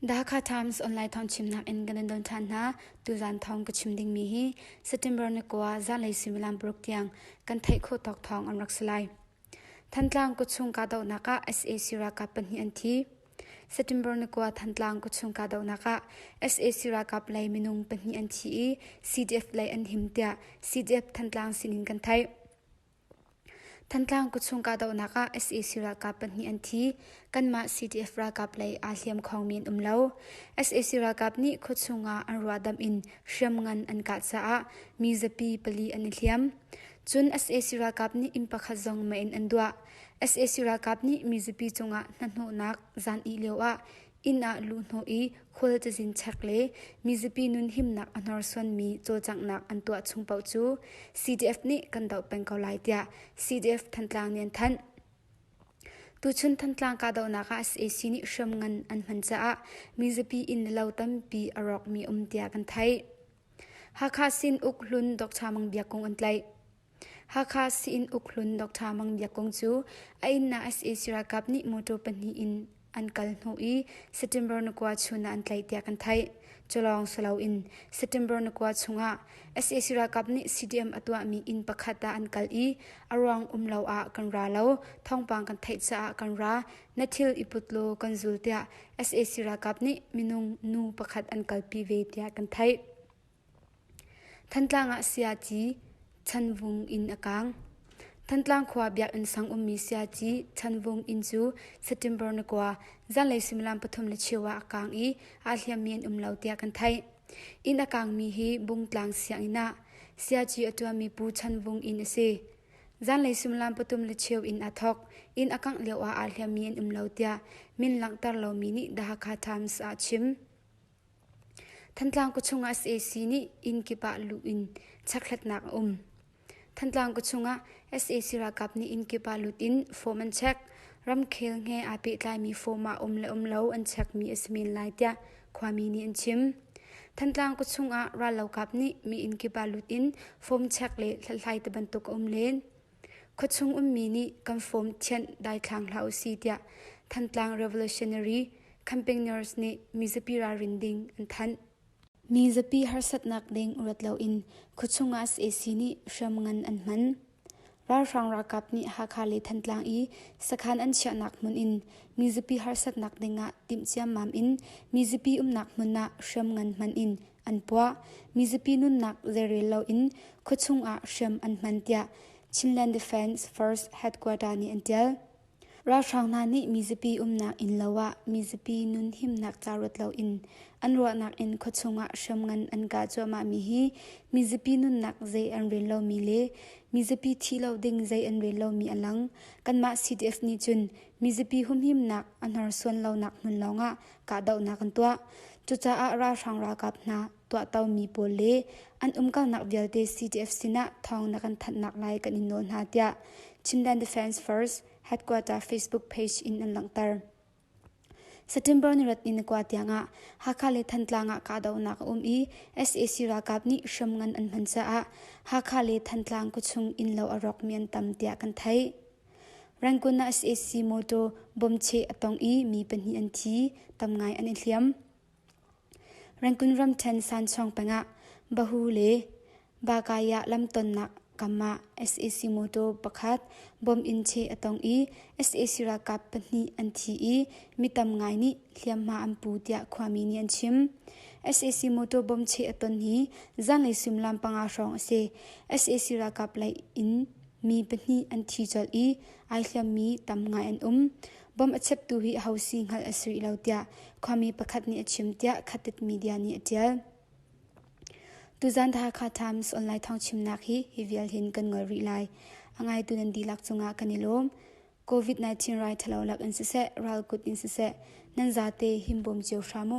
Dhaka Times online thong chimnak in kan don than hna tuzan thong ka chim ding mi hi September ni kuwa zanlei suimilam paruk tiang kan theih kho tawk thong an rak salai Thantlang kutchung kahdohnak ah sac ralkap pahnih an thi. September ni kua Thantlang kutchung kahdohnak ah sac ralkap lei minung pahnih an thi i CDF lei an him tiah CDF Thantlang sinin kan theih. Thantlang kutchung kahdohnak ah sac ralkap pahnih an thi. Kanmah CDF ralkap lei aa hliam khawngmi an um lo. sac ralkap nih khuachung ah an ruahdamh in hriamngan an kah caah mi zapi pali an i hliam. Cun sac ralkap nih inn pakhat zong mei in an duah. sac ralkap nih mizapi cungah hnahnawhnak zan ih lioah inn ah luhhnawh i khual cazin chek le mizapi nun himnak a hnorsuanmi cawlcanghnak an tuah chung paoh cu CDF nih kan doh peng ko lai tiah CDF Thantlang nih an thanh. Tuchun Thantlang kahdohnak ah sac nih hriamngan an hman caah mizapi inn le lo tampi a rawkmi um tiah kan theih. Hakha Sinuk hlun Dr. Mang Bia Kung an tlaih. Hakha Sin Uk hlun Dr. Mang Bia Kung cu a inna sac ralkap nih motor pahnih in an kal hnawh i September ni kua chun ah an tlaih tiah kan theih. Culawng silo in September ni kua chungah sac ralkap nih CDM a tuahmi inn pakhat ah an kal i a ruang um lo ah kan ra lo thawngpang kan theih caah kan ra Na thil i put law kan zul tiah sac ralkap nih minung nu pakhat an kalpi ve tiah kan theih. Thantlang ah siaci Chanvung inn a kaang. Thantlang khua biakinn sang ummi siaci Chanvung inn cu September ni kua zanlei suimilam pathum le cheu ah a kaang i aa hliammi an um lo tiah kan theih. Inn a kaangmi hi Bungtlang sianginn ah siaci a ṭuanmi Pu Chanvung inn a si. Zanlei suimilam pathum le cheu in a thawk. Inn a kangh lioah aa hliammi an um lo tiah min langhter lomi nih The Hakha Times ah a chim. Thantlang kutchung ah sac nih inn kip ah luh in chekhlatnak a um. Thantlang kutchung ah sac ralkap nih inn kip ah lut in form an check. Ramkhel he aa pehtlaimi form ah um le um lo an checkmi a si men lai tiah Khuami nih an chim. Thantlang kawchung ah rallokap nih mi innkip ah lut in form check le hlathlai te bantuk a um len. Khuachung ummi nih kan form thianh daithlang hlah u si tiah Thantlang Revolutionary campaigners nih mizapi ralrin ding an thanh. Mi zapi harsatnak ding ruat loin khuachung ah sac nih hriam ngan an hman. Ralhrang ralkap nih Hakha le Thantlang i sakhan an chiahnak hmun in mizapi harsatnak dingah timh ciammam in mizapi umnak hmun ah hriam ngan hman in an puah, mizapi nunnak zeirel loin khuachung ah hriam an hman tiah Chinland Defence Force Headquarter nih an tial. Ralhrang hna nih mizapi umnak innlo ah mizapi nun himnak ca ruat loin an ruahnak in khuachung ah hriamngan an kah cuahmahmi hi mizapi nunnak zei an rel lomi le mizapi thih lo ding zei an rel lomi a lang. Kanmah CDF nih cun mizapi humhimnak a hnorsuan lonak hmun lawngah kahdohnak an tuah. Cucaah ralhrang ralkap hna tuahtomi pawl le an umkalnak vialte CDF sinah thawng na kan thanhnak lai kan in nawl hna tiah Chinland Defense Force headquarter Facebook page in an langhter. September nirat ni nakwa tiangah Hakha le Thantlang ah kahdohnak a um i SAC ralkap nih hram ngan an hman caah Hakha le Thantlang kuchung inn lo a rawkmi an tam tiah kan theih. Rangoon ah SAC motor bomb che a tong i mi pahnih an thi, tam ngai an i hliam. Rangoon ramṭhen sanchawng pengah Bahu le Bakayah lamtonnak kam ah sac motor pakhat bomb in cheh a tong i sac ralkap pahnih an thi i mi tam ngai nih hliamhma an pu tiah khuami nih an chim. sac motor bomb cheh a ton hi zanlei suimilam panga hrawng a si. sac ralkap lei in mi pahnih an thi colh i ai hliammi tam ngai an um. Bom a cheptu hi aho si hngalh a si rih lo tiah khuami pakhat nih a chim tiah Khatet media nih a ṭial. Tuzan The Hakha Times online thawngchimnak hi hi vial hin kan ngol rih lai. A ngaitu nan dihlak cungah kan i lawm. COVID-19 rai ṭhalo lak in siseh, ral kut in siseh, nan zate him bawm cio hram u.